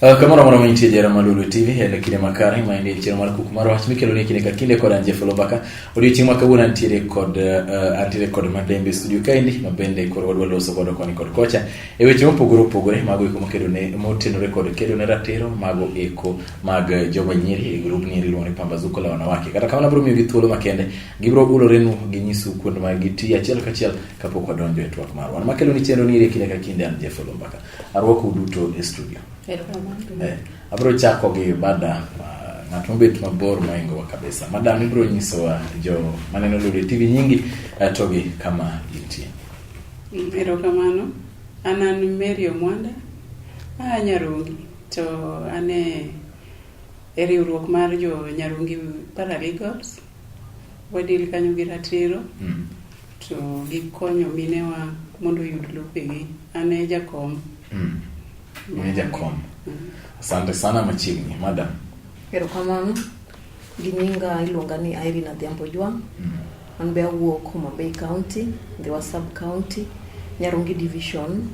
Ah, kamano mano mantie jera malulu tv en kinde makare ma en chieng' mar kuku mar wach mikelo ni kinde ka kinde kod anje fulobaka odiochieng' ma kawuono antiere kod uh, antiere kod madembe studio kaendi ma bende koro wadwa loso godo koni kod kocha E weche mopogore opogore mago eko makedo ne motenore kod kedo ne ratiro mago eko mag joma nyiri e grup nyiri iluongo ni pambazuko la wanawake kata kamano abiro miyogi thuolo makende gibiro ulorenu ginyisu kuonde ma gitiye achiel kachiel kapok wadonjo e twak marwa an makelo ni chenro niri e kinde ka kinde an jeff olombaka arwako uduto e studio Eh, abiro chako gi bada ah, ng'at mobet mabor moingowa kabisa madam ibiro nyisowa jo maneno lori tv nyingi eh, to gi kama intie Erokamano. An an Mary Omwanda, aa Nyarungi to an e e riwruok mar jo Nyarungi Paralegals. Wadil kanyo gi ratiro Mm. to gikonyo minewa mondo oyud lopegi. An e jakom. Mm. Mwenye jakom. Asante sana machiegni, madam. Erokamano. Ginyinga iluonga ni Irene Adhiambo Jwang'. Mm. An be awuok Homa Bay County, Ndhiwa Sub County, Nyarungi Division.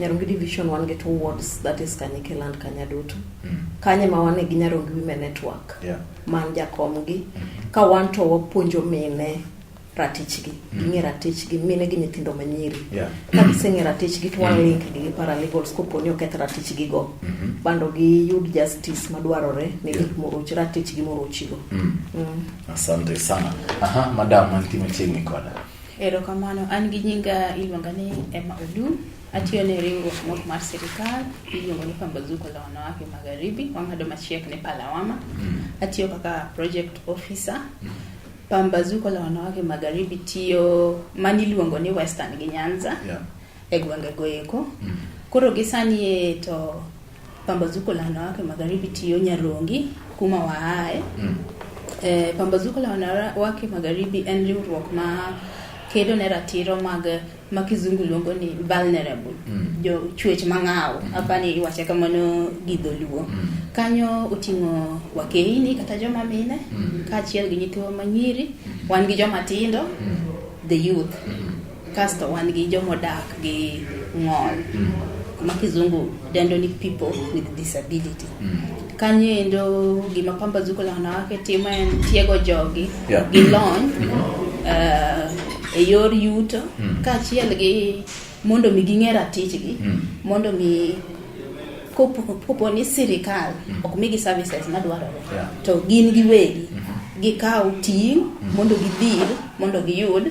Nyarungi Division wan gi two wards that is Kanyike land Kanyadutu. Mm. Kanye ma wan gi Nyarungi Women Network. Yeah. Man jakomgi. Mm. Ka wan to wapuonjo mine ratichgi mm. ging'e ratichgi mine gi nyithindo manyiri yeah. ka giseng'e ratichgi to walink mm. gi gi paralegals kopo ni oketh ratichgi go mm -hmm. bando giyud justice madwarore ne gik yeah. moroch ratichgi morochigo mm. mm. Asante sana. Aha, madam mantie machiegni koda. Erokamano, an gi nyinga iluonga ni Emma Odu. Atiyo ne riwruok mok mar sirikal iluongo ni Pambazuko la Wanawake Magharibi, wang'ado machiegni Palawama. Mm. Atiyo kaka project officer. Mm. Pambazuko la Wanawake Magharibi tiyo mani iluongo ni Western gi Nyanza yeah. e gwenge goeko. Mm. Koro gisani to Pambazuko la wanawake magharibi tiyo Nyarongi kuma waaye mm. E, pambazuko la wanawake magharibi en riwruok ma kedo ne ratiro mag ma kizungu luongo ni vulnerable mm. jo chuech mang'awo mm. apani iwache kamano gi dholuo mm. kanyo oting'o wakeini kata joma mine mm. kaachiel gi nyithiwa manyiri mm. wan gi joma tindo mm. the youth mm. Kasto wan gi jomodak gi ng'ol mm. ma kizungu dendo ni people with disability mm. kanyo endo gima pambazuko la wanawake timo en tiego jogi yeah. gi lony mm -hmm. uh, e yor yuto mm. kaachiel gi mondo mi ging'e ratichgi mm. mondo mi kopo ni sirikal mm. ok migi services madwarore yeah. to gin giwegi mm -hmm. gikaw ting' mm. mondo gidhir mondo giyud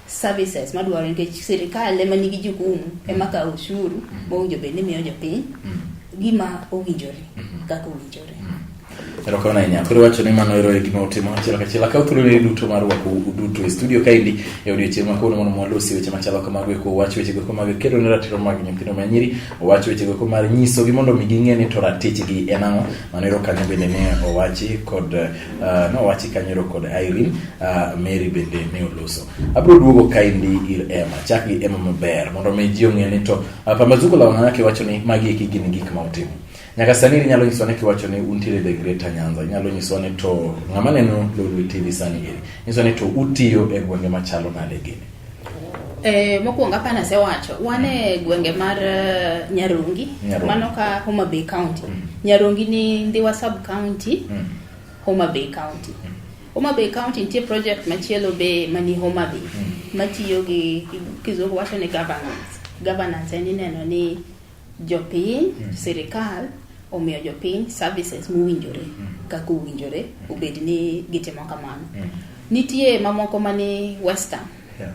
services madwaro nikech sirikal ema nigi jukumu ema mm. kawo ushuru mm. mowinjo bed ni miyo jopiny mm. gima owinjore mm-hmm. kaka owinjore erokamano ahinya koro wacho ni mano ero e gima utimo achiel kachiel akaw thuoloni duto mar rwako uduto e studio kaendi e odiochieng' ma kawuono mondo mwalosi weche machalo kamago eko wach weche goeko mag kedo ne ratiro mag nyithindo ma nyiri owach weche goeko mar nyisogi mondo mi ging'e ni to ratichgi en ang'o mano ero kanyo bende ne owachi kod Uh, nowachi kanyoro kod Irene uh, Mary bende ne oloso. Abro duogo kaindi ir Emma, chak gi Emma maber mondo mi ji ong'e ni to uh, Pambazuko la wanawake wacho ni magi eki gin gik ma utimo. Nyaka sani inyalo nyiswa ni kiwacho ni untiere the Greater Nyanza, inyalo nyiswa ni to ng'ama neno Lolwe TV sani eri, nyiswa ni to utiyo e gwenge machalo nade gini. Eh, mokwongo apana sewacho wan e gwenge mar uh, Nyarungi, Nyarungi. mano ka Homa Bay County. Mm. Nyarungi ni Ndhiwa sub county, mm. Homa Bay County. Mm. Homa Bay County nitie project machielo be mani Homa Bay mm. matiyo gi kizungu wacho ni governance. Governance en ineno ni Jopiny, mm. sirikal omiyo jopiny services mowinjore mm. kaka owinjore mm. obed ni gitimo kamano. Mm. Nitie mamoko mani western yeah.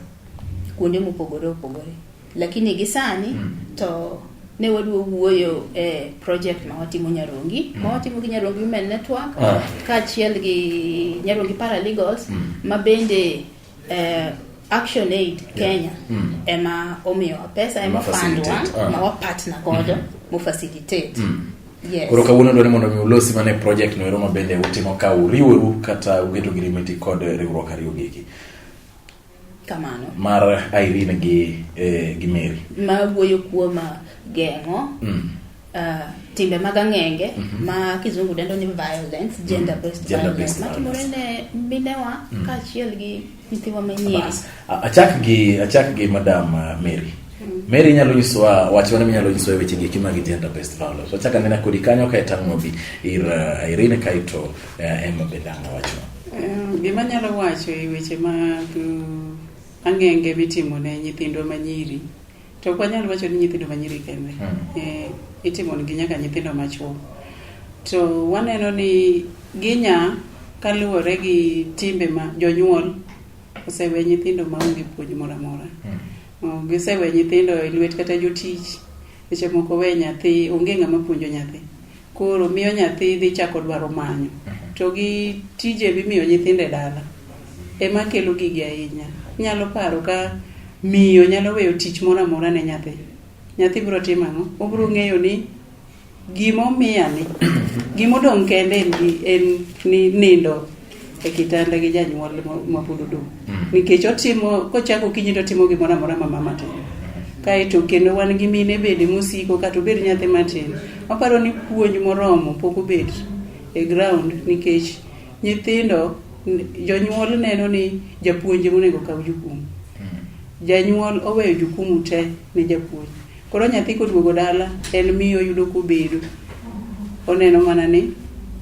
kuonde mopogore opogore lakini gi sani mm. to ne wadwa wuoyo e project ma watimo Nyarongi mm. ma watimo gi Nyarongi Women Network ah. kaachiel gi Nyarongi Paralegals mm. ma bende Eh, Action Aid Kenya mm. ema omiyowa pesa ema fundwa ah. ma wapartner godo mm -hmm. mu facilitate mm. Yes. Koro kawuono dwani mondo mi ulosi mane project no ero mabende utimo ka uriworu kata ugeto girimiti kod riwruok ariyo gigi kamano mar Irene gi eh, gi Mary ma wuoyo kuom geng'o mm. Uh, timbe mag ang'enge mm -hmm. ma kizungu dendo ni violence mhm. gender based gender violence matimore ne minewa mm -hmm. kaachiel gi nyithiwa manyiri achak gi achak gi madam uh, Mary mm. Mary inyalo nyisowa wach mane minyalo nyisowa weche gi kima gi gender based violence wachaka nena kodi kanyo kae tang'o bi ir uh, Irene kaito uh, Emma Bedanga wacho um, gima nyalo wacho e weche mag ang'enge mitimo ne nyithindwa manyiri To ok wanyal wacho ni nyithindo ma nyiri kende hmm. eh, itimonigi nyaka nyithindo machuo. To waneno ni ginya kaluwore gi timbe ma jonyuol osewe nyithindo ma onge puonj moro amora. Hmm. Oh, gisewe nyithindo e lwet kata jotich, seche moko we nyathi, onge ng'ama puonjo nyathi. koro miyo nyathi dhi chako dwaro manyo to gi tije mimiyo nyithindo e dala ema kelo gigi ahinya nyalo paro ka miyo nyalo weyo tich moro amora ne nyathi nyathi biro timo ang'o obiro ng'eyo ni gimomiya ni gimodong' kende en ni nindo e kitanda gi janyuol mapod odong' mm. nikech otimo kochako kinyi to timo gimoro amora ma mama timo kaeto kendo wan gi mine bende mosiko kata obed nyathi matin aparo ni puonj moromo pok obed e ground nikech nyithindo jonyuol neno ni japuonj monego kaw jukumu mm. janyuol oweyo jukumu te ne japuonj Koro nyathi koduogo dala en miyo oyudo kobedo. Oneno mana ni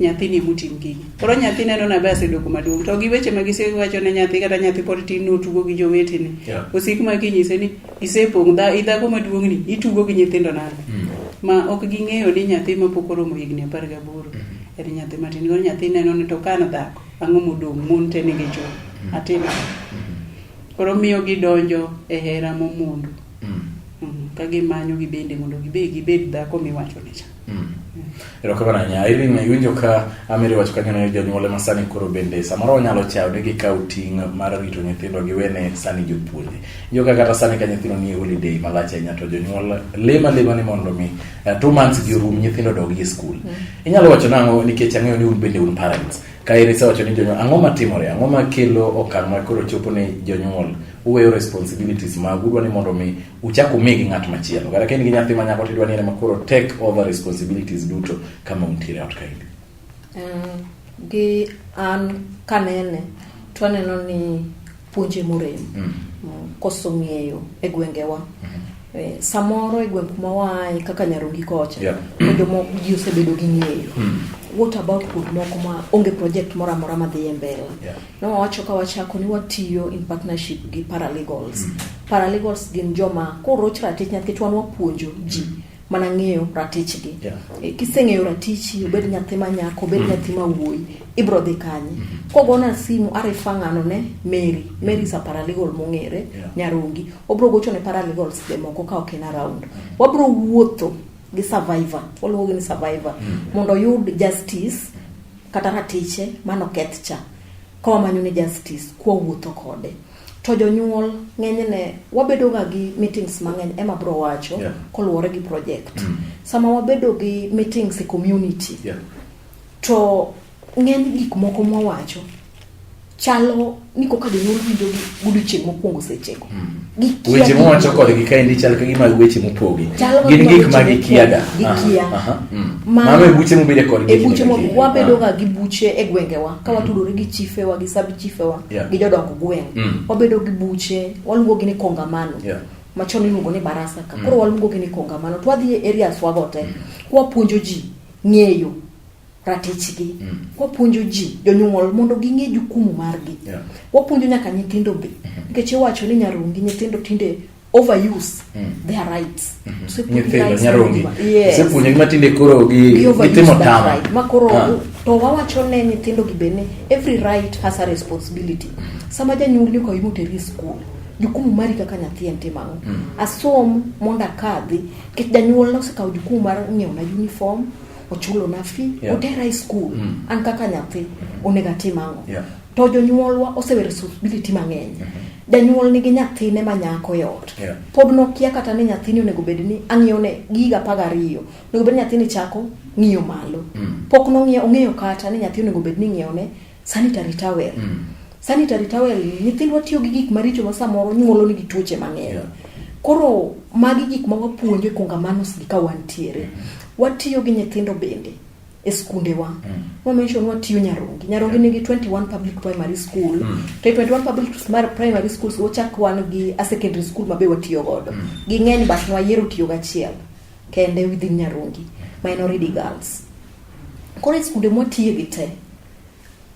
nyathini emotim gigi. Koro nyathi neno nabe asedoko maduong' to gi weche ma gisewacho ne nyathi kata nyathi pod tin notugo gi jowetene. Yeah. Osik ma kinyise ni isepong' dha idhago maduong'ni itugo gi nyithindo nade. Mm. Ma ok ging'eyo ni nyathi ma pok oromo higni apar gaboro en nyathi matin. Koro nyathi neno ni to ka an dhako ang'o modong' mon te nigi chwo. Atim ang'o? Koro miyo gidonjo e hera momondo. mm. mm. ka gimanyo gibende mondo gibe gibed dhako miwachone cha mm. erokamano ahinya irene iwinjo ka amiri wacho kanyo ne jonyuole ma sani koro bende samoro wanyalo chawo ne gikaw ting' mar rito nyithindo giwene sani jopuonje injo ka kata sani ka nyithindo nie holiday malach ahinya to jonyuol lema lema ni mondo mi uh, two months gi rum nyithindo dogi e skul mm. inyalo wacho nang'o nikech ang'eyo ni un bende un parents ka iri sewacho ni jonyuol ang'o matimore ang'o makelo okang' ma koro chopo ni jonyuol uweyo responsibilities magu udwa ni mondo mi uchak umigi ng'at machielo kata kain gi nyathi ma nyako tidwa ni en makoro take over responsibilities duto kama untiere ot kaindi Eh, gi an kanene to aneno ni puonje morem Mm. Mm, koso ng'eyo e gwengewa Eh, samoro e gweng' kuma waaye kaka Nyarongi kocha yeah. Mm. jomoko ji osebedo gi ng'eyo mm. what about kuond moko ma onge project moro amora madhi e mbele yeah. nowawacho ka wachako ni watiyo in partnership gi paralegals mm. paralegals gin joma koroch ratich nikech wan wapuonjo ji mm. mana ng'eyo ratichgi yeah. e, eh, kiseng'eyo ratichi obed nyathi ma nyako obed mm. nyathi ma wuoyi ibrodhi kanye mm -hmm. kogona simu are fang'ano ne mary mary sa paralegal mong'ere yeah. nyarongi obro gocho ne paralegals be moko ka ok en around mm -hmm. wabro wuotho gi survivor waluongogi ni survivor mm -hmm. mondo oyud justice kata ratiche mano keth cha kawamanyo ne justice kwawuotho kode to jonyuol ng'enyne wabedoga gi meetings mang'eny ema bro wacho yeah. koluwore gi project mm -hmm. sama wabedo gi meetings e community yeah To ng'eny gik moko mwawacho chalo ni koka jonyuol winjo gi godiochieng' mokwongo sechego Gikia weche gik mowacho moko. kodgi kaendi chal ka gima weche mopogi Chalo gin gima gik weche ma mopogi. gikiaga Gikia. Ah, aha, mm. Ma- mano e buche mobede kodgi e buche mo- kinda wabedoga gi buche e gwengewa ka watudore gi chifewa gi sab chifewa Yeah. gi jodong gweng Mm. wabedo gi buche waluongogi ni kongamano Yeah. machon iluongo ni barasa ka koro waluongogi ni kongamano to wadhi e areas wago te wapuonjo ji ng'eyo ratichgi mm. wapuonjo ji jonyuol mondo ging'e jukumu margi yeah. wapuonjo nyaka nyithindo be mm-hmm. nikech mm -hmm. iwacho ni nyarongi nyithindo tinde overuse mm. their rights mm -hmm. nyithindo nyarongi osepuonjo yes. matinde koro gitimo tama right. ma koro ah. to wawacho ne nyithindo gi be ni every right has a responsibility mm. sama janyuol ni okawi moteri e skul jukumu mari kaka nyathi en timang'o mm. asom mondo akadhi nikech janyuol nosekawo jukumu mar ng'iewona uniform ochulona fee yeah. otera e skul mm. an kaka nyathi onego atim ang'o yeah. to jonyuolwa osewe responsibility mang'eny mm -hmm. janyuol nigi nyathine ma nyako e ot yeah. pod nokia kata ni nyathini onego bed ni ang'iyone giga paga ariyo onego bed ni nyathini chako ng'iyo malo mm. pok nong'iyo ong'eyo kata ni nyathi onego bed ni ng'iyone sanitary towel mm. sanitary towel nyithindwa tiyo gi gik maricho ma samoro nyuolo nigi tuoche mang'eny yeah. koro magi gik ma wapuonjo e kongamanos gi ka wantiere mm. watiyo gi nyithindo bende e skundewa mm. wamention watiyo nyarongi nyarongi nigi 21 public primary school mm. to 21 public primary schools wachak wan gi a secondary school mabe watiyo godo mm. ging'eny but nwayiero tiyo gachiel kende within nyarongi minority girls Koro e skunde mwatiye gi te,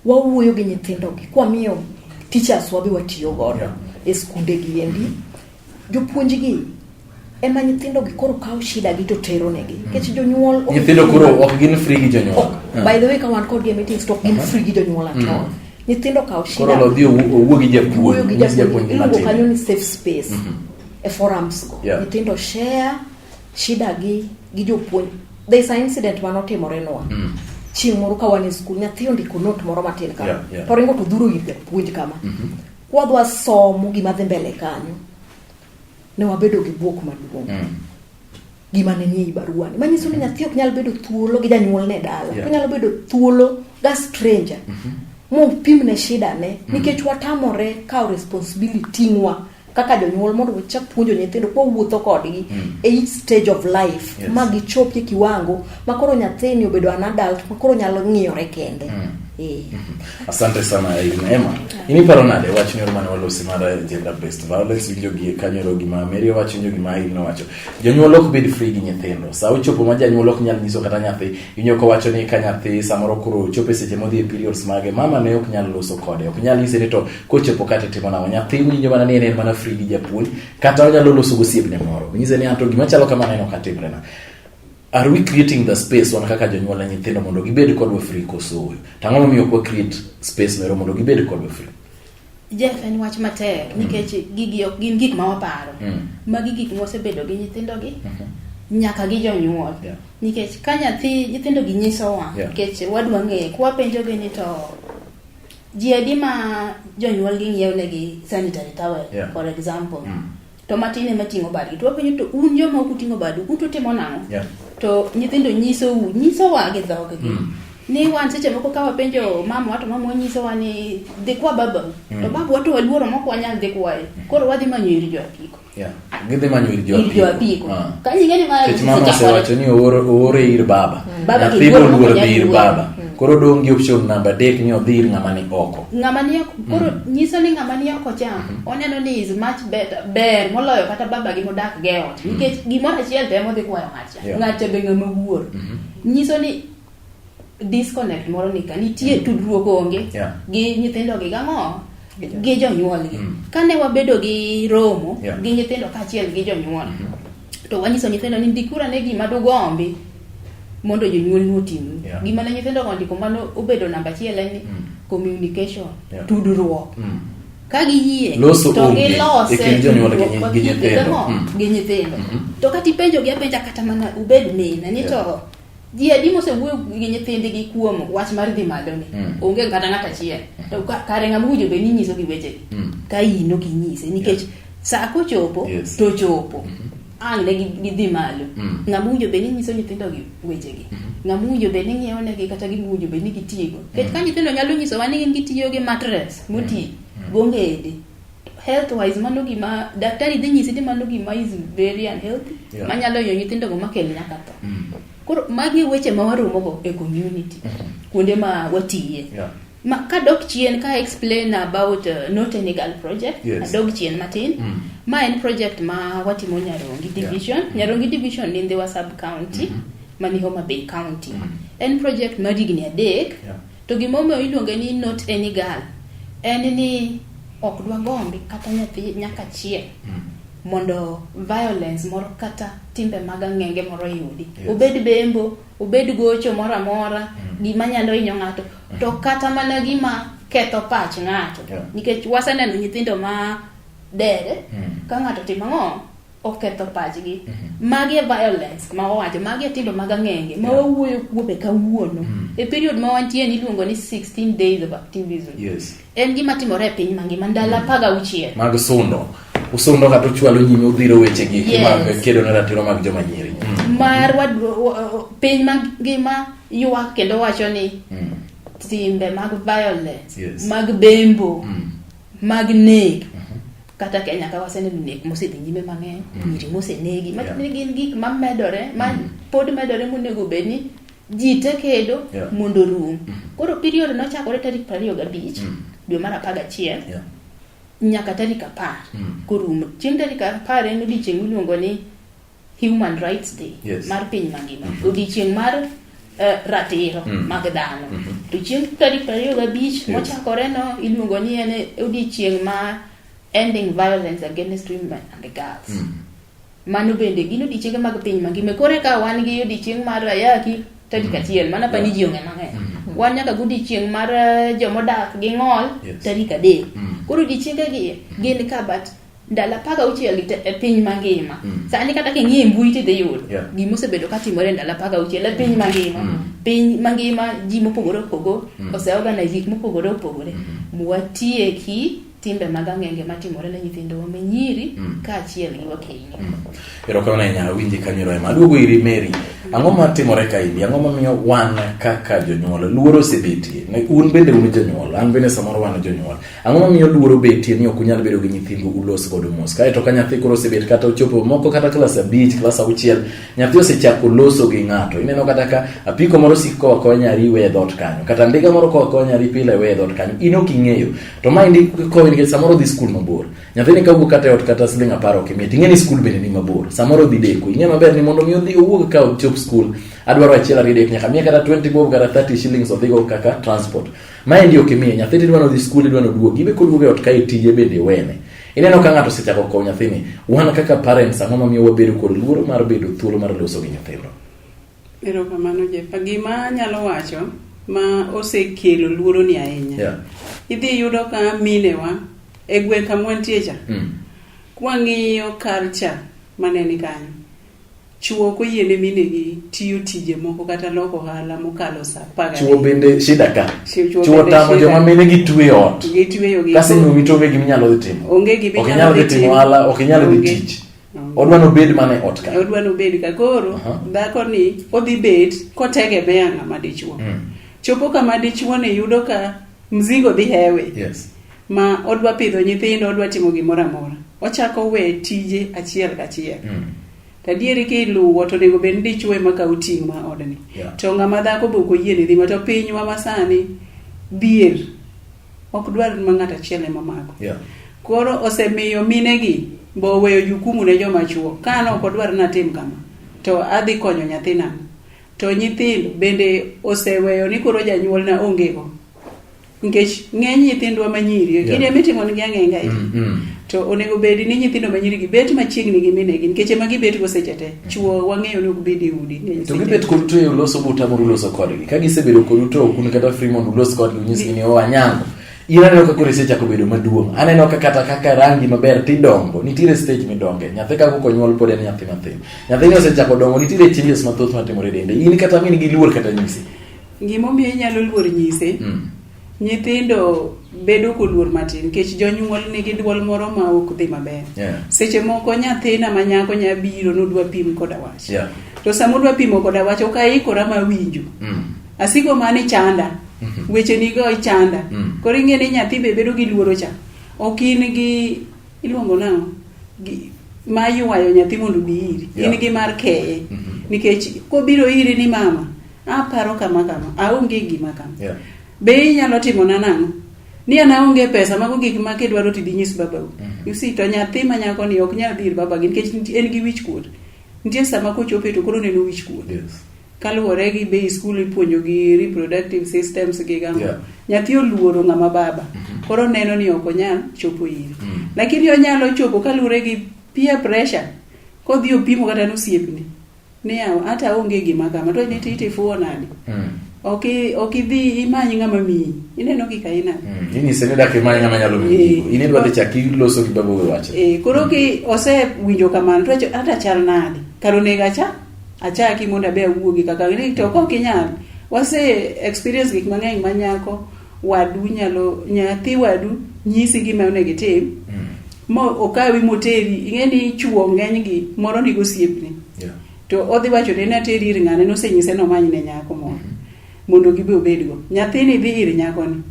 wawuoyo gi nyithindogi kwamiyo teachers wabi watiyo godo e skunde gi endi. Jopuonjgi ema nyithindo gi koro kawo shida gi to tero negi nikech mm. jonyuol nyithindo koro ok gin free gi jonyuol ah. by the way ka wan kod game meetings to ok gin uh-huh. free gi jonyuol at mm. all nyithindo kawo shida koro lodhi owuo gi japuonj gi japuonj iluongo kanyo ni safe space mm-hmm. e forums go nyithindo share Shida gi gi jopuonj. There is an incident mane otimore nwa. Mm. Chieng' moro ka wan e skul, nyathi ondiko note moro matin kama. Yeah, yeah. To ringo to dhuro ir japuonj kama. Mm -hmm. Kwadwa somo gima dhi mbele kanyo. Ne wabedo gi buok maduong'. Mm gima ne nie barua ni manyiso ni nyathi ok nyal bedo thuolo gi janyuol ne dala yeah. onyalo bedo thuolo ga stranger mm -hmm. mopimne shida ne mm -hmm. nikech watamore kawo responsibility ngwa kaka jonyuol mondo wachak puonjo nyithindo kwa wuotho kodgi mm. e each stage of life yes. ma gichop e kiwango ma koro nyathini obedo an adult ma koro nyalo ng'iyore kende mm. e. mm-hmm. asante sana Emma iniparo nade wach nyoro mane walosi mar gender based violence winjo gi kanyoro gima Mary owacho winjo gima Irene owacho jonyuol ok bed free gi nyithindo sa ochopo ma janyuol ok nyal nyiso kata nyathi inyo ko wacho ni ka nyathi samoro koro chope seche modhi e periods mage mama ne ok nyal loso kode ok nyal nyise ni to kochopo kata itimo nang'o nyathi winjo mana ni en en mana free gi japuonj kata onyalo loso gosiepne moro nyise ni anto gima chalo kama neno katimrena are we creating the space wan kaka jonyuol na nyithindo mondo gibed kodwa free koso to ang'o momiyo ok create space mero mondo gibed kodwa free Jeff en wach matek mm. nikech gigi ok gin gik ma waparo mm. magi gik mosebedo gi nyithindogi mm-hmm. nyaka gi jonyuol nikech ka nyathi nyithindogi nyisowa nikech wadwa ng'eye kwapenjogi ni to ji adi ma jonyuolgi ng'iewnegi sanitary towel yeah. for example mm. to matin ema ting'o badgi to wapenjo to un joma ok uting'o badu un to timo nang'o yeah. to nyithindo nyisou nyisowa gi dhoggi mm. ni wan seche moko ka wapenjo mama wato mama wanyisowa ni dhi kwa babau mm. to babu wato waluoro mok wanyal dhi kwaye mm. koro wadhi manyo ir jo apiko Yeah. Gidhi manyo ir joapiko. Ir joapiko. Uh. Ah. Ka nyinge ni mara Kech mama osewacho ni oore, oore ir baba. Mm. Baba Nyathi ki luoro luoro dhi ir baba. Mm. Koro dong' gi option namba adek ni odhi ir ng'ama ni oko. Ng'ama ni oko. Koro mm. nyiso ni ng'ama ni oko cha mm. oneno ni is much better ber moloyo kata baba gi modak ge ot. Mm. Nikech gimoro achiel temo dhi kwayo ng'at cha. Yeah. Ng'at cha be ng'ama wuor. Mm -hmm. Nyiso ni disconnect moro nika nitie mm. tudruok onge yeah. gi nyithindo gi gang'o gi jonyuolgi mm. kane wabedo gi romo yeah. gi nyithindo kaachiel gi jonyuol mm -hmm. to wanyiso nyithindo ni ndikura ne gima dugombi mondo jonyuolni otimni yeah. gima ne nyithindo go ndiko mano obedo namba achiel en mm. communication yeah. tudruok mm. ka giyie to gilose gi nyithindo mm. to kata ipenjogi apenja kata mana ubed mina ni yeah. to ji adi mosewuoyo gi nyithindgi kuom wach mar dhi malo ni mm. onge kata ng'at achiel mm. to kare ng'ama owinjo bed ni nyiso gi wechegi mm. ka in ok inyise nikech yeah. sa kochopo yes. to chopo mm -hmm. ang' ne gidhi malo mm. ng'ama owinjo bed ni nyiso nyithindogi wechegi mm -hmm. ng'ama owinjo bed ni ng'iewo negi kata gima owinjo bed ni gitiyogo nikech mm. ka nyithindo nyalo nyisowa ni gin gitiyo gi matres moti mm. mm. gongede health wise mano gima daktari dhi nyisi ni mano gima is very unhealthy yeah. manyalo yo nyithindo go makel nyaka tho mm. koro magi weche ma waromo go e community mm -hmm. kuonde ma watiye yeah. ma ka dok chien ka explain about uh, not a legal project yes. adog chien matin mm. ma en project ma watimo nyarongi division yeah. Mm. nyarongi division ni ndhiwa sub county mm -hmm. mani homa bay county mm -hmm. en project mar higni adek yeah. To gima omiyo iluonge ni not any girl en ni ok dwa gombi kata nyathi nyaka chiel mm. mondo violence moro kata timbe mag ang'enge moro yudi yes. obed bembo obed gocho moro amora mm. gima nyalo hinyo ng'ato mm. to kata mana gima ketho pach ng'ato yeah. nikech waseneno nyithindo ma dere mm. ka ng'ato timo ang'o oketho pachgi mm-hmm. magi e violence ma wawacho magi e tindo mag ang'enge ma wawuoyo kuome kawuono mm. e period ma wantie ni iluongo ni 16 days of activism yes. en gima timore e piny mangima ndalo mm. apar gauchiel mag sundo usundo kata uchwalo nyime udhiro weche gi yes. kedo ne ratiro mag joma nyiri mm. mar piny mangima ywak kendo wacho ni mm. timbe mag violence yes. mag bembo mm. mag nek mm. kata kenya ka waseneno nek mosedhi nyime mang'eny mm. nyiri mosenegi matiende gin gik mamedore ma mm. pod medore monego bed ni ji te kedo mondo rum mm. koro period nochakore tarik prariyo gabich dwe mar apar gachiel nyaka tarik apar korumo chieng' tarik apar en odiechieng' miluongo ni Human Rights Day yes. mar piny mangima mm -hmm. odiechieng' mar uh, ratiro mm -hmm. mag dhano mm -hmm. to chieng' tarik prariyo gabich yes. mochakore no iluongo ni en odiechieng' ma ending violence against women and girls mm -hmm. mano bende gin odiechienge mag piny mangima koro eka wan gi odiechieng' mar ayaki tarik mm-hmm. achiel mana pani ji ong'e mang'eny mm -hmm. wan nyaka godiechieng' mar eh, jomodak gi ng'ol yes. tarik adek mm -hmm. koro odiechiengegi gin ka but ndalo apar gauchiel gi e piny mangima mm. sani kata king'iye mbui tidhi yudo yeah. gima osebedo ka timore ndalo apar gauchiel e piny mangima mm. piny mangima ji mopogore opogore mm. oseorganize gik mopogore opogore mm. watieki timbe mag ang'enge matimore ne nyithindowa me nyiri mm. kaachiel gi wakeini mm. erokamano ahinya awinje kanyero ema aduogo iri meri ang'o matimore ka idi ang'o mamiyo wan kaka jonyuol luoro osebetie un bende un jonyuol an bende samoro wan jonyuol Ang'o momiyo luoro betie ni ok unyal bedo gi nyithindu ulos godo mos? Kae to ka nyathi koro osebet kata ochopo moko kata klas abich, klas auchiel, nyathi osechako loso gi ng'ato. Ineno kata ka apiko moro sik koa koa nyari we e dhot kanyo, kata ndiga moro koa koa nyari pile we e dhot kanyo. In ok ing'eyo. To ma indi kowi nikech samoro dhi skul mabor. Nyathini ka wuok kata e ot kata siling apar ok imiye. Ting'e ni skul bende ni mabor. Samoro dhi deko. Ing'e maber ni mondo mi odhi owuog ka ochop skul, adwaro achiel ariyo dek nyaka miye kata 20 bob kata 30 shillings odhigo kaka transport. Maendi ok imiye nyathi tidwa nodhi skul idwa noduogi ibe koduogo e ot kae tije bende wene. Ineno ka ng'ato osechako kowo nyathini, wan kaka parents ang'o mamiyo wabedo kod luoro mar bedo thuolo mar loso gi nyithindo? Erokamano Jeff. Gima anyalo wacho ma osekelo luoro ni ahinya. Yeah. Idhi yudo ka minewa e gweng' kama wantie cha. Mm. Kwang'iyo culture maneni kanyo. Chwo ok oyiene minegi tiyo tije moko kata loko ohala mokalo sa apar Chwo gariyo. bende shida ka. Chwo- chwo Chwo bende tamo shida. joma mine gi twe ot. Gitweyo gi- Kasi nyumi to onge gima inyalo dhi timo. Onge gima Ok inyalo inyalo dhi dhi timo timo. ohala, ok inyalo dhi Onge. tich. Onge. Odwa nobed mana e ot ka. odwa nobed ka koro Aha. dhako ni odhi bet kotegemea ng'ama dichuo Mm. chopo kama dichuo ni yudo ka mzigo dhi hewe Yes. ma odwa pidho nyithindo odwa timo gimoro amora ochako we tije achiel kachiel mm. tadieri ki luwo to onego bed ni dichwo ema kawo ting' ma odni yeah. to ng'ama dhako be ok oyiene dhi ma to pinywa masani dhier ok dwar ma ng'ato achiel ema mako yeah. koro osemiyo minegi be oweyo jukumu ne joma chuo ka an ok odwar ni atim kama to adhi konyo nyathina to nyithindo bende oseweyo ni koro janyuolna ongego nikech ng'eny nyithindwa manyiri yeah. kinde mitimo nigi ang'enga mm -hmm. to onego bedi ni nyithindo manyiri gi bet machiegni gi minegi nikech ema gibet go seche te mm. chuo wang'eyo ni ok bed e udi to gibet kod to e uloso buta moro uloso kodgi ka gisebedo kod uto ok un kata free mondo ulos kodgi unyisgi ni owa oh, nyango in aneno ka koro isechako bedo maduong' aneno ka kata kaka rangi maber tidongo nitiere stage midonge nyathi ka koko nyuol pod en nyathi mathin nyathini osechako dongo nitiere changes mathoth matimore dende in kata min gi luor kata nyisi Gimomiyo inyalo luor nyise. Mm. Nyithindo bedo koluor matin nikech jonyuol nigi duol moro ma ok dhi maber. Yeah. Seche moko nyathina ma nyako nya biro nodwa pim koda wach. Yeah. To sama odwa pimo koda wach ok aikora ma winjo. Mm. Asiko mani chanda. Mm -hmm. Weche nigo ichanda. Mm. Koro ing'e ni nyathi be bedo gi luoro cha. Ok in gi iluongo nang'o? ma yuwayo nyathi mondo obi iri in gi mar keye mhm. nikech kobiro iri ni mama aparo kama kama aonge gima kama yeah. be inyalo timona nang'o ni an aonge pesa mago gik ma kidwaro tidhi nyis babau mm -hmm. usi to nyathi ma nyako ni ok nyal dhir babagi nikech en gi wich kuot nitie sama kochope to koro neno wich kuot yes. kaluwore gi be skul ipuonjo gi reproductive systems gi gamo yeah. nyathi oluoro ng'ama baba mm -hmm. koro neno ni ok onyal chopo ire mm -hmm. lakini onyalo chopo kaluwore gi peer pressure kodhi opimo kata nosiepni Niya, hata onge gima kama, to niti itifuo nadi? Mm. Ok i- ok idhi imany ng'ama miyi. Ineno kika inade? Mm. Inyise ni dak imany ng'ama nyalo miyi gigo. Eh. In idwa dhi chak iloso gi babu we wache. Eh, koro ki osewinjo kamano to wacho, hata chal nadi? Kar onego acha achaki mondo abe awuogi kaka ni to ok inyal. Wase experience gik mang'eny ma nyako wadu nyalo nyathi wadu nyisi gima onego itim mm. mo okawi moteri ing'e ni chuo ng'eny gi moro ni gosiepni yeah. to odhi wacho ni nateri ir ng'ane nosenyise nomany ne nyako moro mm -hmm. mondo gibe obedgo nyathini dhi ir nyakoni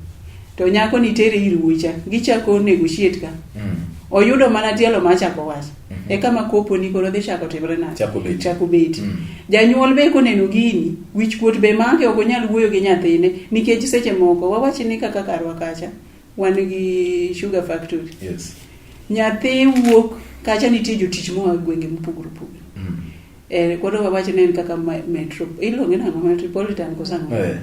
to nyakoni tere ir wucha gichako negotiate ka mm. oyudo mana tielo machako wacho mm -hmm. eka ma kopo ni koro dhi chako timre na chako beti, chako beti. Mm. janyuol be koneno gini wich kuot be make ok onyal wuoyo gi nyathine nikech seche moko wawachi ni kaka karwa kacha wan gi sugar factory yes. nyathi wuok kacha nitie jotich moa gwenge mopogore opogore mm. eh, koro wawachi ni en kaka metro iluonge nango metropolitan kosango eh.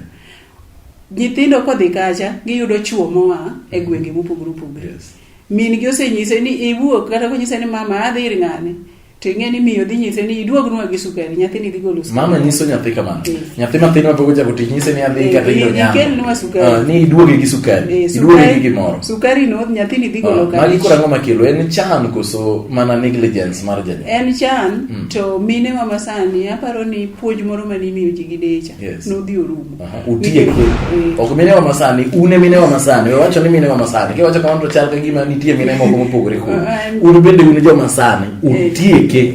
nyithindo kodhi kacha giyudo chuo moa e gwenge mopogore opogore yes. min gi osenyise ni iwuok kata konyise ni mama adhi ir ng'ane to ing'e ni miyo dhi nyise ni iduognwa gi sukari nyathini dhi golo sukari mama nyiso nyathi kamano Eh. nyathi mathin mapok ochako tich nyise ni adhi Eh, kata ido i- nyama ikelnwa sukari. Ah, ni iduoge gi sukari Eh, iduoge sukari- gi gimoro sukari no nyathini dhi golo Ah, magi koro kare ang'o makelo en chan koso mana negligence mar janyuol en chan to mine wa masani aparo ni puonj moro mane imiyo ji gi decha Yes. nodhi orumo utie kwe ok mine wa masani une mine wa masani we wacho ni mine wa masani kiwacho kamano to chal ka gima nitie mine moko mopogore kod un bende un joma sani utieke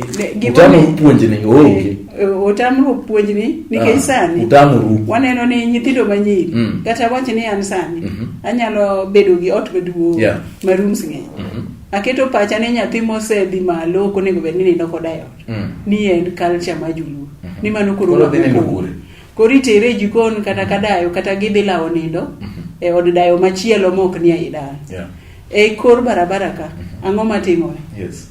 utamo puonjni oonge otamru puonjni nikech sani utamuru waneno ni nyithindo manyiri Mm. kata wach ni an sani Mhm. anyalo bedo gi ot maduong' Yeah. ma rooms ng'eny Mhm. aketo pacha ni nyathi mosedhi malo ok onego bed ni nindo koda e ot Mm. ni en culture ma joluo ni mano koro Koro dhi nindo kure? koro itere e jikon kata ka dayo kata gidhi lawo nindo Mhm. e od dayo machielo ma ok ni ei dala Yeah. e kor barabara ka Mhm. ang'o matimore Yes.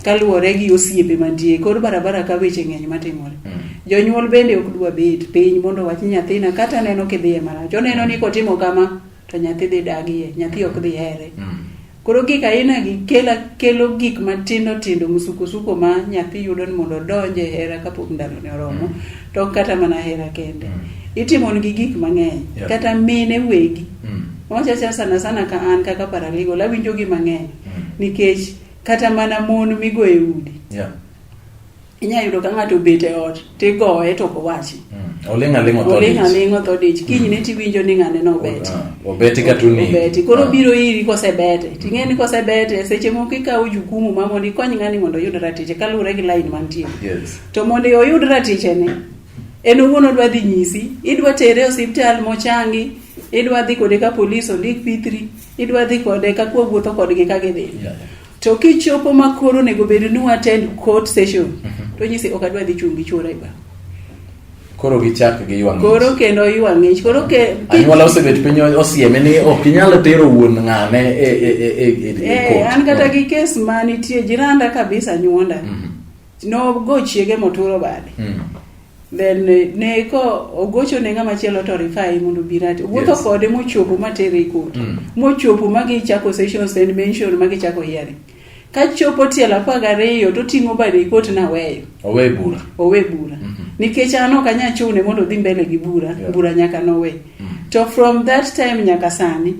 kaluwore gi osiepe mantie e kor barabara ka weche ng'eny matimore Mm. jonyuol bende ok dwa bet piny mondo wach nyathina kata neno kidhiye marach oneno ni kotimo kama to nyathi dhi dagie nyathi ok dhi here Mm. Koro gik aina gi kela kelo gik matindo tindo musukosuko ma nyathi yudo ni mondo odonje e hera kapok ndalone oromo mm. to ok kata mana hera kende mm. itimonigi gik mang'eny yeah. kata mine wegi mm. wachacha sana sana ka an kaka paralegal awinjogi mang'eny mm. nikech kata mana mon migoye udi yeah. inyalo yudo ka ng'ato obet e ot tigoye to ok owachi mm. oling' aling' otho oling' aling' otho dich mm. kinyne tiwinjo ni ng'ane nobeti ah, obeti ka tuni obeti koro ah. biro iri kosebete ting'e ni kosebete seche moko ikawo jukumu ma mondo ikony ng'ani mondo oyud ratiche kaluwore gi lain mantie to mondo oyud ratichene en owuon odwa dhi nyisi idwa tere osiptal mochangi idwa dhi kode ka polis ondik pithri idwa dhi kode ka kuwa wuotho kodgi ka gidhi To kichopo ma koro onego bed ni watend court session, mhm. to nyisi ok adwa dhi chung' gi chuora e bar. Koro gichak gi ywang' Koro kendo ywang' ng'ich. Koro ke anyuola osebet piny osieme ni ok inyal tero wuon ng'ane e e e e, e, e eh, court. An kata gi kes ma nitie jiranda kabisa nyuonda. Mhm. No go chiege moturo bade. Mhm. then eh, ne ko ogocho ne ng'ama chielo to rifai mondo birati wuotho yes. kode mochopo matere ikot mm. mochopo magi chako sessions and mention magi chako hearing ka chopo tielo apar gariyo to ting'o bade ikot na weyo owe bura owe bura mm -hmm. nikech an ok anya chune mondo odhi mbele gi bura yeah. bura nyaka nowe mm. to from that time nyaka sani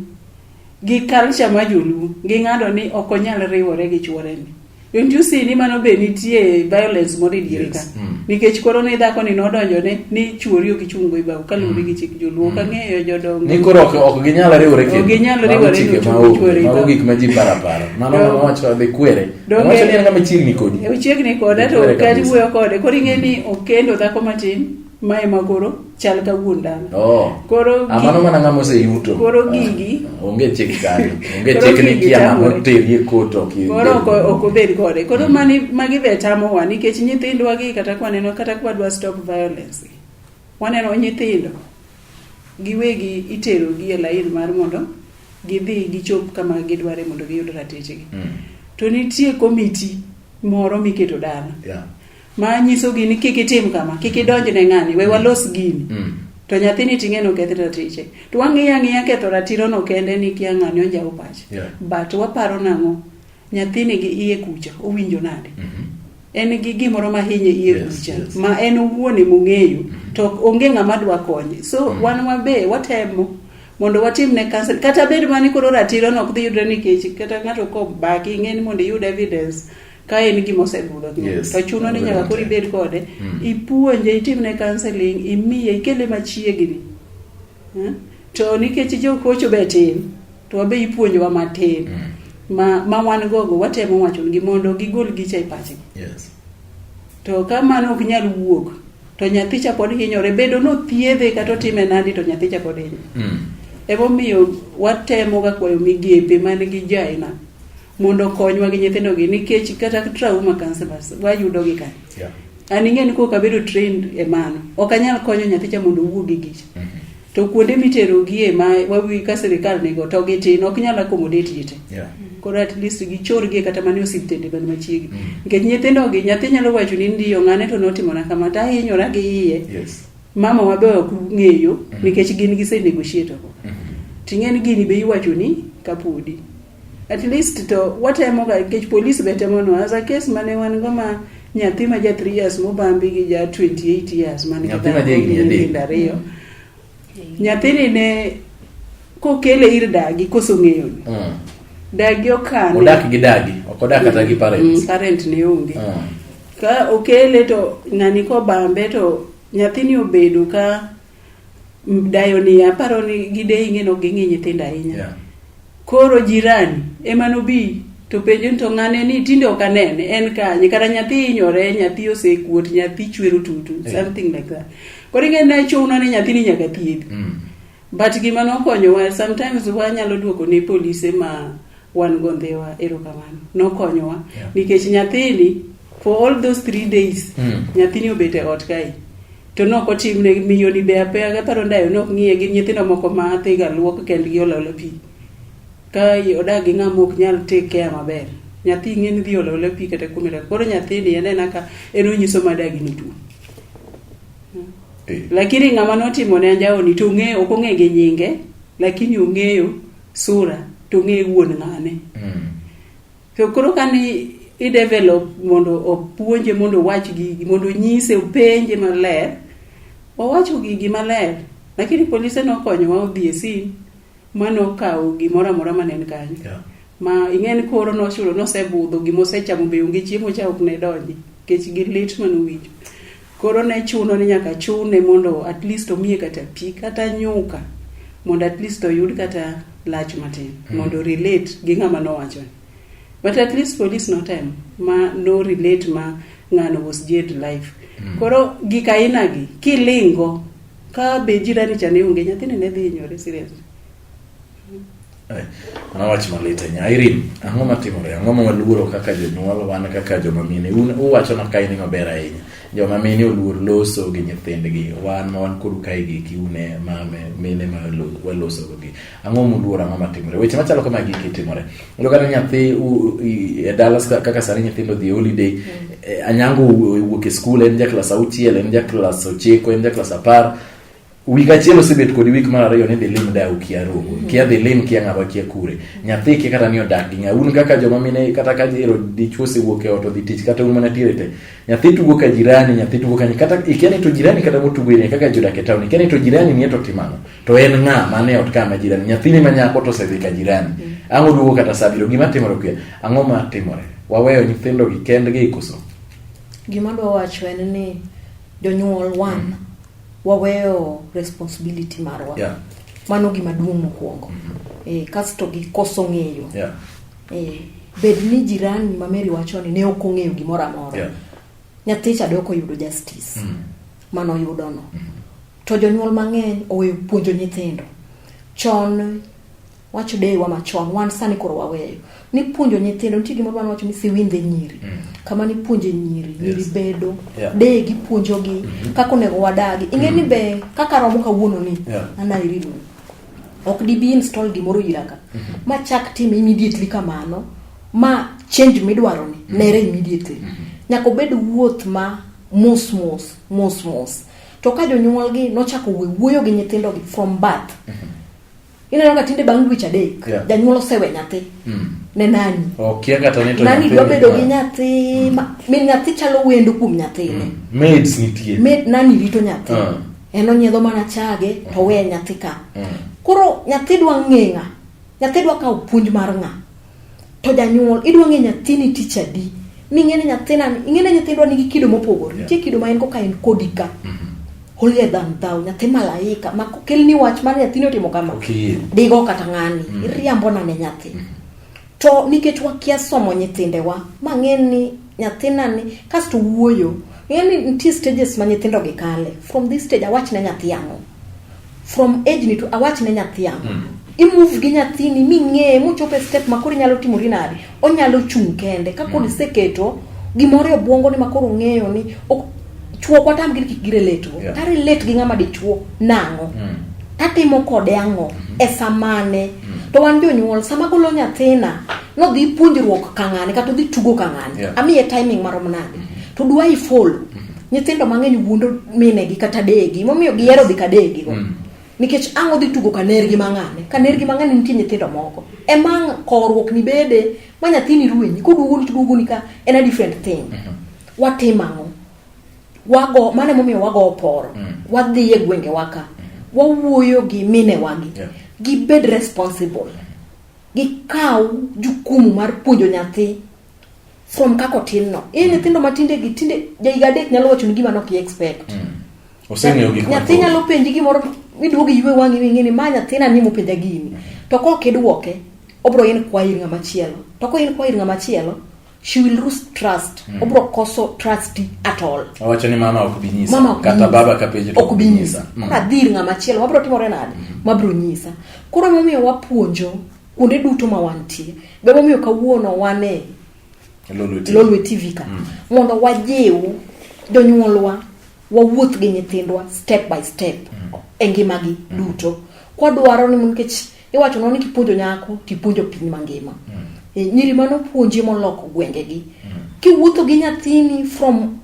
gi culture ma joluo ging'ado ni ok onyal riwore gi chuoreni Don't you see ni mano be nitie violence moro e diere ka. Yes, mm. Nikech koro ne dhako ni nodonjo ne ni chuori ok ichung' go ibao kaluwore gi chik joluo mm. kang'eyo jodongo. Ni koro ok ok ginyal riwore kendo. Ok ginyal riwore ni ochung' chuori ibao. Mago gik ma ji para para. Mano ma wacho dhi kwere. Wacho ni en ng'ama chiegni kodi. Chiegni koda to kati wuoyo kode. Koro ing'e ni okendo dhako matin ma ema koro chal ka wuon dala oh. koro amano mana ng'ama oseyuto koro ah, gigi onge chik kani onge chik ni kia ng'ama oterie koto koro ok obed kode koro mm. mani magi be tamowa nikech nyithindwa gi kata kwaneno kata kwadwa stop violence waneno nyithindo giwegi itero gi e lain mar mondo gidhi gichop kama gidware mondo giyud ratechegi mm. to nitie komiti moro miketo dala yeah. ma nyisogi ni kik itim kama kik idonj ne ng'ani we walos gini mm. to nyathini ting'e noketh ratiche to wang'iyo ang'iya ketho ratiro no kende ni kia ng'ani onjawo pache yeah. but waparo nang'o nyathini gi iye kucha owinjo nade mm -hmm. en gi gimoro ma hinye iye yes, kucha yes. ma en owuon emong'eyo mm -hmm. to onge ng'ama dwa konye so mm -hmm. wan wabe watemo mondo watim ne council kata bed mani koro ratiro no ok dhi yudre nikech kata ng'ato kobaki ing'eni mondo iyud evidence ka en gima osebudho yes. to chuno ni nyaka koro ibed kode mm. ipuonje itimne counseling imiye ikele machiegni hmm? to nikech jokocho be tin to wabe ipuonjowa matin mm. ma, ma wan gogo watemo wachongi mondo gigol gicha e pachgi yes. to ka mano ok nyal wuok to nyathi cha pod hinyore bedo nothiedhe kata otime nadi to nyathi cha pod hinyore mm. emomiyo watemoga kwayo migepe man gi jaina mondo okonywa gi nyithindogi nikech kata trauma counselors wayudogi ka yeah. an ing'e ni kok abedo trained e mano ok anyal konyo nyathicha mondo owuo gi gicha mm -hmm. to kuonde miterogie ma wawi ka sirikal nigo to gitin ok nyal accommodate ji te yeah. koro at least gichorgie kata mane osiptende man machiegni mm -hmm. nikech nyithindogi nyathi nyalo wacho ni ndiyo ng'ane to notimona kama to ahinyora gi iye yes. mama wabe ok ng'eyo mm -hmm. nikech gin gise negotiate mm -hmm. ting'e ni gini be iwacho ni kapodi At least to watemo ga nikech police be temo no as a case mane wan go ma nyathi ma ja 3 years mobambi gi ja 28 years mane Nyathi ma jahigni adek. ariyo nyathini ne kokele ir dagi koso ng'eyo ni Mm. dagi okane odak gi dagi ok odak kata gi Mm, parents parent ne onge Mm. ka okele to ng'ani kobambe to nyathini obedo ka dayo ni aparo ni gideyi ng'e nok ging'i nyithindo ahinya Yeah. koro jirani ema nobi to penjo ni to ng'ane ni tinde ok anene en kanye kata nyathi hinyore nyathi osekuot nyathi chwero tutu Yeah. something like that koro ing'e ne chuno ni nyathini nyaka thiedhi Mm. but gima nokonyowa sometimes wanyalo duoko ne polise ma wan go ndhiwa erokamano nokonyowa Yeah. nikech nyathini for all those three days Mm. nyathini obet e ot kae to nok otimne miyoni be apeya gaparo ndayo nok ng'iye gi nyithindo moko ma athiga luok kendgi ololo pi ka odak gi ng'ama ok nyal take care maber nyathi ing'e ni dhi ololo pi kata kuom dak koro nyathini enena ka en onyiso madagi ni tuo eh. lakini ng'ama notimo ne anjawoni to ong'e ok ong'e gi nyinge lakini ong'eyo sura to ong'e wuon ng'ane mm. To koro ka ni i develop mondo opuonje mondo owach gigi mondo onyise openje maler owacho gigi maler lakini polise nokonyowa odhi e sin ma nokawo gimoro amora ma ne en kanyo Yeah. ma ing'e ni koro nochulo nosebudho gima osechamo be onge chiemo cha ok ne donji nikech gi lit manowinjo Koro ne chuno ni nyaka chune mondo at least omiye kata pi kata nyuka mondo at least oyud kata lach matin mm. mondo relate gi ng'ama nowacho but at least police no time ma no relate ma ng'ano was jailed life mm. koro gik aina gi kilingo ka be jirani cha ne onge nyathini ne dhi hinyore seriously Eh, mana wach malit ahinya Irene ang'o matimore ang'o ma waluoro kaka jonyuol wan kaka joma mine un uwacho na kae ni maber ahinya joma mine oluor loso gi nyithindgi wan ma wan kodu kae gi kiune mame mine ma waloso gi ang'o muluoro ang'o matimore weche machalo kama giki timore ndo kata nyathi e dala kaka sani nyithindo dhi holiday mm. eh, anyango wuok e skul en ja klas auchiel en ja klas ochiko en ja klas apar Wik achiel osebet kodi wik mar ariyo ni dhi lim da ukia rogo. Mm-hmm. Kia dhi lim kia ng'awa kia kure. Nyathi kia kata ni odak gi ng'a. Un kaka joma mine kata ka jero dichwo osewuok e ot odhi tich kata un mana tiere te. Nyathi tugo ka jirani, nyathi tugo ka nyi. Kata ikia ni to jirani kata motugo ine kaka jodak e town. Ikia ni to jirani ni to timano. To en ng'a mane ot ka ma jirani. Nyathi ni manyako to osedhi ka jirani. Mm-hmm. Ang'o duogo kata sa biro gima timore kuya. Ang'o ma timore? Waweyo nyithindo gi kendgi ikoso. Gima dwa wacho en ni jonyuol wan mm. waweyo responsibility marwa yeah. mano gima duong' mokwongo mm -hmm. e, kasto gikoso ng'eyo yeah. e, bed ni jirani ma meri wacho ni ne ok ong'eyo gimoro amora yeah. nyathi cha dok oyudo justice mm. mano oyudono mm. to jonyuol mang'eny oweyo puonjo nyithindo chon wacho deyewa machon wan sani koro waweyo nipuonjo nyithindo nitie gimoro wan wacho ni siwindhe nyiri mm. kama nipuonje nyiri nyiri yes. bedo yeah. deye gipuonjogi mm -hmm. kaka onego wadagi ing'e mm. ni be kaka romo kawuono ni yeah. anairidu ok dibi install gimoro ira ka mm -hmm. ma chak tim immediately kamano ma change midwaro ni mm. nere immediately mm -hmm. nyaka obed wuoth ma mos mos mos mos to ka jonyuolgi nochako wuoyo gi nyithindogi from birth mm -hmm ineno ka tinde bang' dweche adek yeah. janyuol osewe nyathi mm. ne nani okay, nani dwa bedo gi nyathi mm. ma, min nyathi chalo wendo kuom nyathine mm. maids nitie Maid, nani rito nyathi uh. en onyiedho mana chage to mm. weye nyathi ka mm. koro nyathi dwa ng'e ng'a nyathi dwa kawo puonj mar ng'a to janyuol idwa ng'e nyathini tich adi ming'eni nyathina ing'eni nyithindwa nigi kido mopogore nitie kido ma en go ka en kodi ka holier than thou nyathi malaika ma kelni wach mar nyathini otimo kama Okiyie. digo kata ng'ani Mm. iriambo nane nyathi to nikech wakia somo nyithindewa ma ng'e ni nyathina ni kasto wuoyo ng'e ni nitie stages ma nyithindo gi kale from this stage awach ne nyathi ang'o from age ni to awach ne nyathi ang' mm. imove gi nyathini ming'eye mochopo e step ma koro inyalo timori nade onyalo chung' kende ka kod mm. iseketo gimoro e obwongo ni ma koro ong'eyo ni chuo kwatam gi kik girelate go yeah. tarelate gi ng'ama dichuo nang'o mm. tatimo kode ang'o mm. e samane mm. to wan jonyuol sama golo nyathina nodhi puonjruok kang'ane kata odhi tugo kang'ane yeah. amiye timing marom nade mm. to dwa ifolo mm. Nyithindo mang'eny wuondo minegi kata degi, momiyo gihero dhi kadegi go. Mm. Nikech ang' odhi tugo kanergi mang'ane. Kanergi mang'ane nitie nyithindo moko. E mang' kowruok ni bede ma nyathini ruenyi, koduogo ni tuduogo ni ka en a different thing. Mm -hmm. Watim ang'o? Wago, mane momiyo wago oporo. Mm. Wadhi e gwenge waka. Mm. Wawuoyo gi mine wagi. Yeah. Gibed responsible. Mm. Gikaw jukumu mar puonjo nyathi from kako tin no in mm. nyithindo matinde gi tinde jaiga adek nyalo wacho ni gima nok expect mm. oseng'eyo gik nyathi nyalo penji gimoro miduogo ywe wang'i wing'e ni ma nyathina ni mopenja gini mm. to ka ok idwoke obro in kwa ir ng'ama chielo to ko in kwa ir ng'ama chielo she will lose trust mm. obro koso trust at all awacho ni mama ok binyisa mama kata baba ka penjo ok binyisa mm. adhir ng'ama chielo wabro timore nade mm. mabro nyisa koro momiyo wapuonjo kuonde duto ma wantie be momiyo kawuono wane lolwe tv ka mm. mondo wajiw jonyuolwa wawuoth gi nyithindwa step by step mm. e ngimagi mm. duto kwadwaro ni nikech iwacho no ni kipuonjo nyako tipuonjo piny mangima mm. e, nyiri mano puonji moloko gwengegi mm. kiwuotho gi nyathini from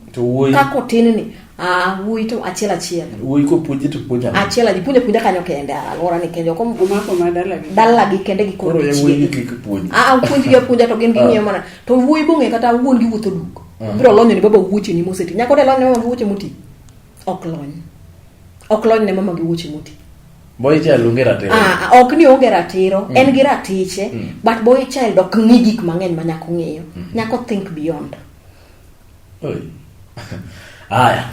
kako tin ni Ah, wuoyi to achiel achiel. Wuoyi ko puonje to puonja. Achiel aji puonje puonja kanyo kende alwora ni kende kom umako ma dala gi. Dala gi kende gi koro. Koro ya wuoyi kik puonje. Ah, ah puonji ya puonja to gin gi ah. ng'iyo mana. To wuoyi bong'e kata wuon gi wuotho duk. Ah. Biro lonyo ni baba wuoche ni moseti. Nyako de lonyo mama wuoche muti. Ok lony. Ok lony ne mama gi wuoche muti. Boy child onge ratiro. Ah, ah, ok ni onge ratiro, mm. en gi ratiche, mm. but boy child ok ng'i gik mang'eny ma nyako ng'iyo. Mm. Nyako think beyond.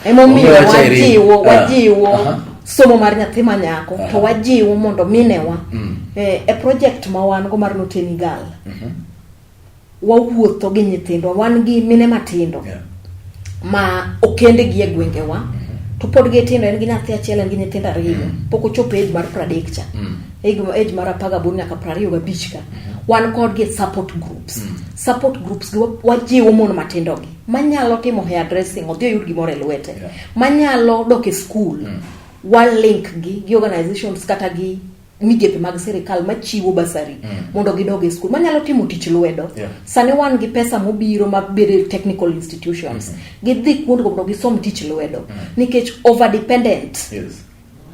emomiyo wajiwo ah. wajiwo uh -huh. somo mar nyathi ma nyako uh -huh. to wajiwo mondo minewa mm. eh, e project ma wan go mar loteni gal mm -hmm. wawuotho gi nyithindwa wan gi mine matindo yeah. ma okende gi e gwengewa mm -hmm. to pod gitindo en gi nyathi achiel en gi nyithindo ariyo mm -hmm. pok ochopo age mar pradek cha mm -hmm. age mar apar gaboro nyaka piero ariyo gabich ka wan kodgi e support groups mm. support groups gi wajiwo mon matindogi manyalo timo hair dressing odhi oyud gimoro e lwete yeah. manyalo dok e skul mm. walink gi gi organizations kata gi migepe mag sirikal machiwo basari mm. mondo gidog e skul manyalo timo tich lwedo yeah. sani wan gi pesa mobiro mabedo e technical institutions mm -hmm. gidhi kuondgo mondo gisom tich lwedo mm. nikech overdependent yes.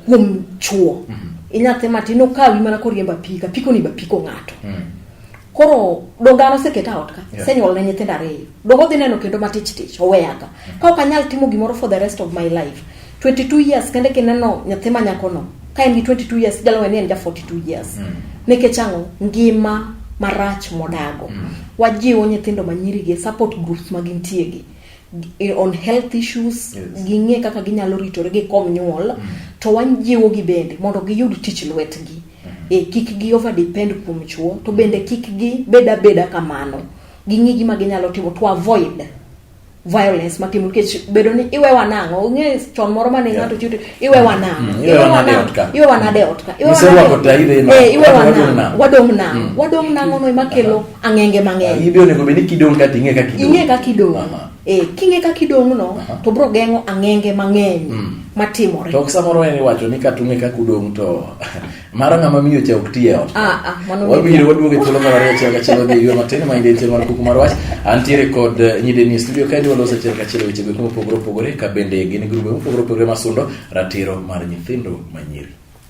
kuom chuo mm -hmm. inyathi matin okawi mana koriemba pika piko ni bapiko ng'ato mm -hmm. koro dongano seketa ot ka yeah. senyuol ne nyithindo ariyo dongo dhi neno kendo matich tich oweyaga mm -hmm. ka ok anyal timo gimoro for the rest of my life 22 years kende kineno nyathi ma nyakono ka en gi 22 years jalo ni en ja 42 years mm. nikech ang'o ngima marach modago mm. wajiwo nyithindo manyirigi support groups ma gintiegi on health issues yes. ging'e kaka ginyalo ritore gi kom nyuol mm. to wanjiwo gi bende mondo giyud tich lwetgi mm. e, kik gi over depend kuom chuo to bende kik gi beda beda kamano ging'e gima ginyalo timo to avoid violence matimo nikech bedo ni iwe wanang'o ung'e chon moro mane yeah. ng'ato chute iwe mm. wanang'o mm. iwe wanang'o iwe wanade otka iwe wanang'o iwe wanang'o wadong' nang'o mm. wadong' nang'o no ema kelo ang'enge mang'eny ibe onego bed ni kidong' kati ing'e kaka idong' ing'e kaka idong' Aha. eh, king'e kaka idong' no Aha. to bro geng'o ang'enge mang'eny Mm. matimore to ok samoro en iwacho ni kata ung'e kaka udong' to mara ng'ama miyo cha ok ti e ot Ah, ah, mano wabiro ni- waduogo e thuolo mar ariyo achiel kachiel odhi e yo matin ma inde tiel mar kuku mar wach antiere kod eh, nyideni e studio kaendi waloso achiel kachiel e weche goeko mopogore opogore ka bende gin grube mopogore opogore masundo ratiro mar nyithindo manyiri